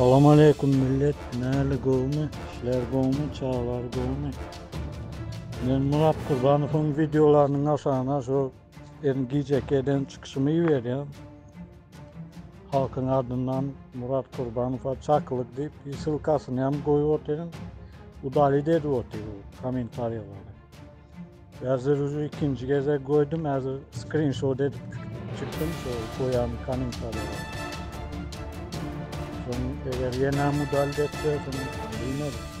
Salam aleyküm millet. Näli gowmy? Şler gowmy? Çaglar gowmy? Men Murat Kurbanowyň videolarynyň aşagyna şu Elin gijekeden çykyşymy iberýän. Halkyň adyndan Murat Kurbanowa çakylyk diýip, ýsylkasyny hem goýup otyryn. Udalit edip otyr bu kommentariýalary. Häzir uju ikinji gezek goýdum, häzir skrinşot edip çykdym şu goýan kommentariýalary. Soň eger ýene udalit etse, soň bilmeris.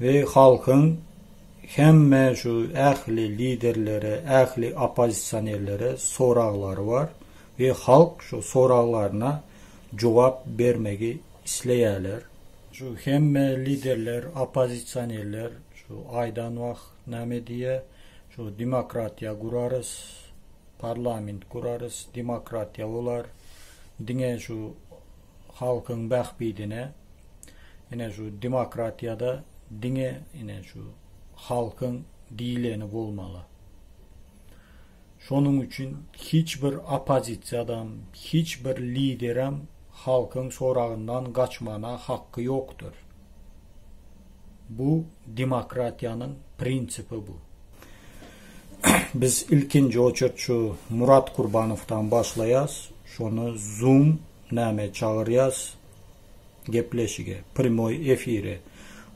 We halkyň hemme şu ähli liderlere, ähli oppozisionerlere soraglary bar we halk şu soraglaryna jogap bermegi isleýärler. Şu hemme liderler, oppozisionerler şu aýdan wah name diýýä, şu demokratiýa gurarys, parlament gurarys, demokratiýa bolar, diňe şu halkyň bähbidine ine şu demokratiýada diňe ine şu halkyň diýleni bolmaly. Şonuň üçin hiç bir oppozisiýadam, hiç bir liderem halkyň soragyndan gaçmana hakky ýokdur. Bu demokratiýanyň prinsipi bu. Biz ilkinji oçert şu Murat Kurbanowdan başlaýas, şony zoom näme çagyrýas gepleşige, prýmoý efire.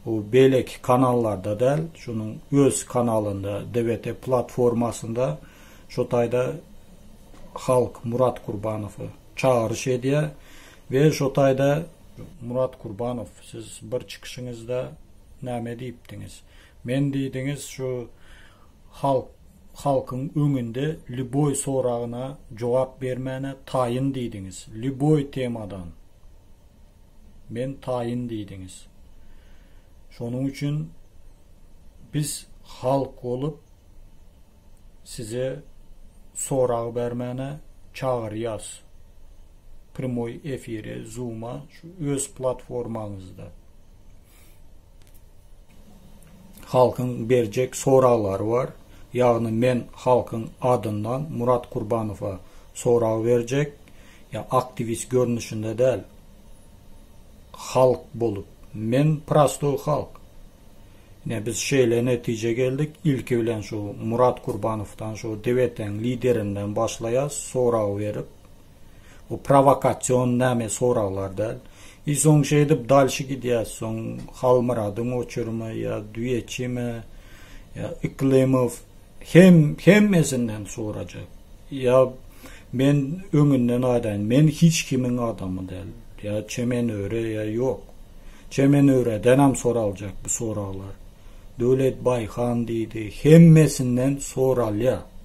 Bu beýleki kanallarda däl, şunuň öz kanalynda DVT platformasynda şu taýda halk Murat Kurbanowy çagyryş edýär we şu taýda Murat Kurbanow siz bir çykyşyňyzda näme diýipdiňiz? Men diýdiňiz şu halk halkyň öňünde lýuboý soragyna jogap bermäne taýyn diýdiňiz lýuboý temadan men taýyn diýdiňiz şonuň üçin biz halk bolup size sorag bermäne çagyrýas primoý efire zuma şu öz platformaňyzda. Halkyň berjek soraglary bar. Ýagny men halkyň adyndan Murat Kurbanowa sorag berjek. Ýa aktiwist görnüşinde däl. Halk bolup. Men prostoý halk. Ine biz şeýle netijä geldik. Ilki bilen şu Murat Kurbanowdan şu DWT-niň liderinden başlaýas sorag berip. Bu prowokasion name soraglar dal. I soň şeýdip dalşy gidýäs soň Halmyradyň oçurymy ýa Düýeçimi ýa Yklymow hem hemmesinden sorajak. Ýa men öňünden aýdaýyn men hiç kimiň adamy däl. Ýa Çemenöre ýa ýok. Çemenöredenem soraljak bu soraglar. Döwlet Baýhan diýdi hemmesinden soralýa.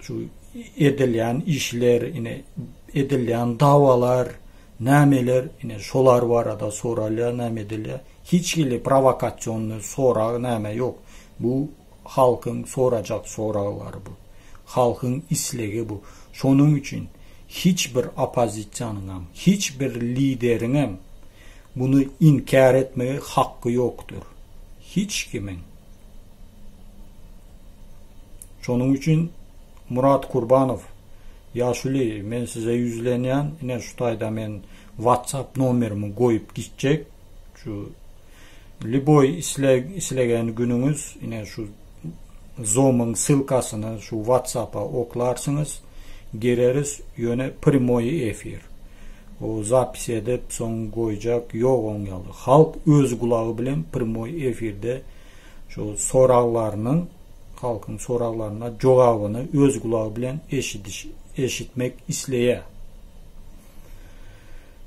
Şu edilýän işler, ine, edilýän dawalar, nämeler, ine, şolar barada soralýar, näme edilýär. Hiç hili prowokasionny sorag, näme ýok. Bu halkyň sorajak soraglary bu. Halkyň islegi bu. Şonuň üçin hiç bir oppozisiýanyňam, hiç bir lideriňem muny inkär etmegi hakky ýokdur. Hiç kimiň. Şonuň üçin Murat Kurbanow ýaşuly men size ýüzlenýän ine şu taýda men WhatsApp nomerimi goýup gitjek şu liboý isleg islegen günüňiz ine şu zomyň ssylkasyny şu WhatsAppa oklarsyňyz gireris ýöne primoý efir o zapis edip soň goýjak ýok oň ýaly halk öz gulagy bilen primoý efirde şu soraglarynyň halkyň soraglaryna jogabyny öz gulagy bilen eşidiş eşitmek isleýär.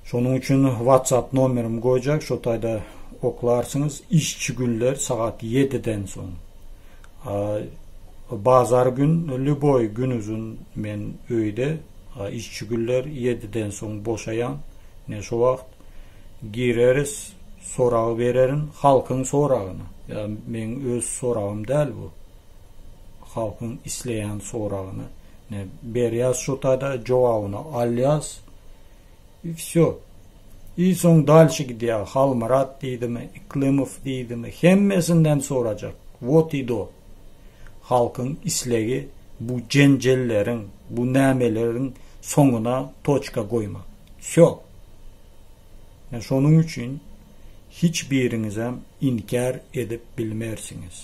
Şonuň üçin WhatsApp nomerimi goýjak, şo taýda oklarsyňyz. Işçi günler sagat 7-den soň. Bazar gün lýuboý gün uzun men öýde işçi günler 7-den soň boşaýan. Ne şo wagt Gireris soragy bererin halkyň soragyna ya meň öz soragym däl bu halkyň isleýän soragyna ne berýas şotada jogabyny alýas i vsyo i soň dalşi gidýa halmyrat diýdimi iklymow diýdimi hemmesinden sorajak wot i do halkyň islegi bu jenjelleriň bu nämeleriň soňuna toçka goýmak. Wsýo! Men şonuň üçin hiç biriňizem inkär edip bilmersiňiz.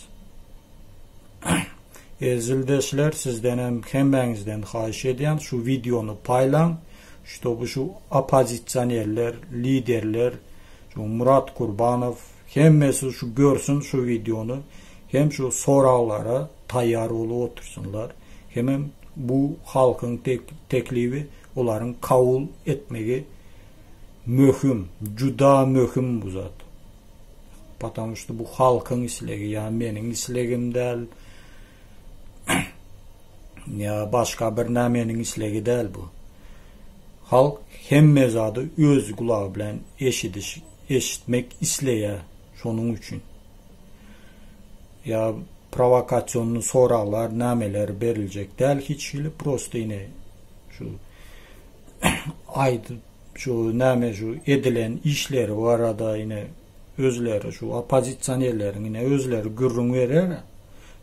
Ezildeşler sizdenem hemmäňizden haýyş edýän şu wideony paýlaň, ştoby şu oppozisionerler, liderler, şu Murat Kurbanow hemmesi şu görsün şu wideony hem şu soraglara taýýar bolup otursynlar, hemem bu halkyň teklibi olaryň kabul etmegi möhüm, juda möhüm bu zat. Patamu şda bu halkyň islegi, ýa meniň islegim däl, ýa başga bir nämeniň islegi däl bu. Halk hemme zady öz gulagy bilen eşidiş, eşitmek isleýär, şonuň üçin. Ýa prowokasion soraglar nämeler beriljek däl hiç hili prosta ine şu aýdyp şu näme şu edilen işleri barada ine özleri şu oppozisionerleriň ine özleri gürrüň berer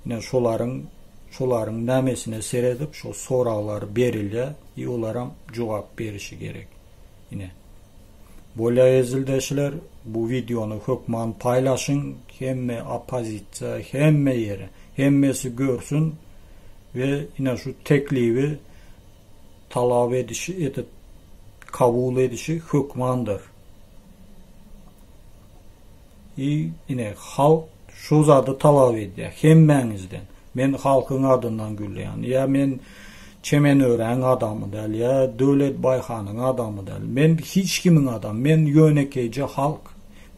ine şolaryň şolaryň nämesine seredip şu soraglar berilýär i olaram jogap berişi gerek ine Bolýa zildeşler bu wideony hökman paýlaşyň hemme oppozisiýa hemme ýere hemmesi görsün we ine şu teklibi talap edişi edip kabul edişi hökmandyr. I ine halk şu zady talap edýär hemmäňizden. Men halkyň adyndan gürleýän. Ýa men Çemenöräň adamy däl, ýa Döwlet Baýhanyň adamy däl. Men hiç kimiň adamy. Men ýönekeýje halk.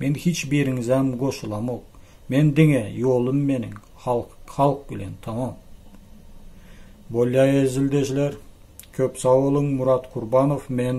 Men hiç biriňizem goşulamok. Men diňe ýolum meniň halk halk bilen tamam. Bolýa ezildeşler köp sag boluň Murat Kurbanow men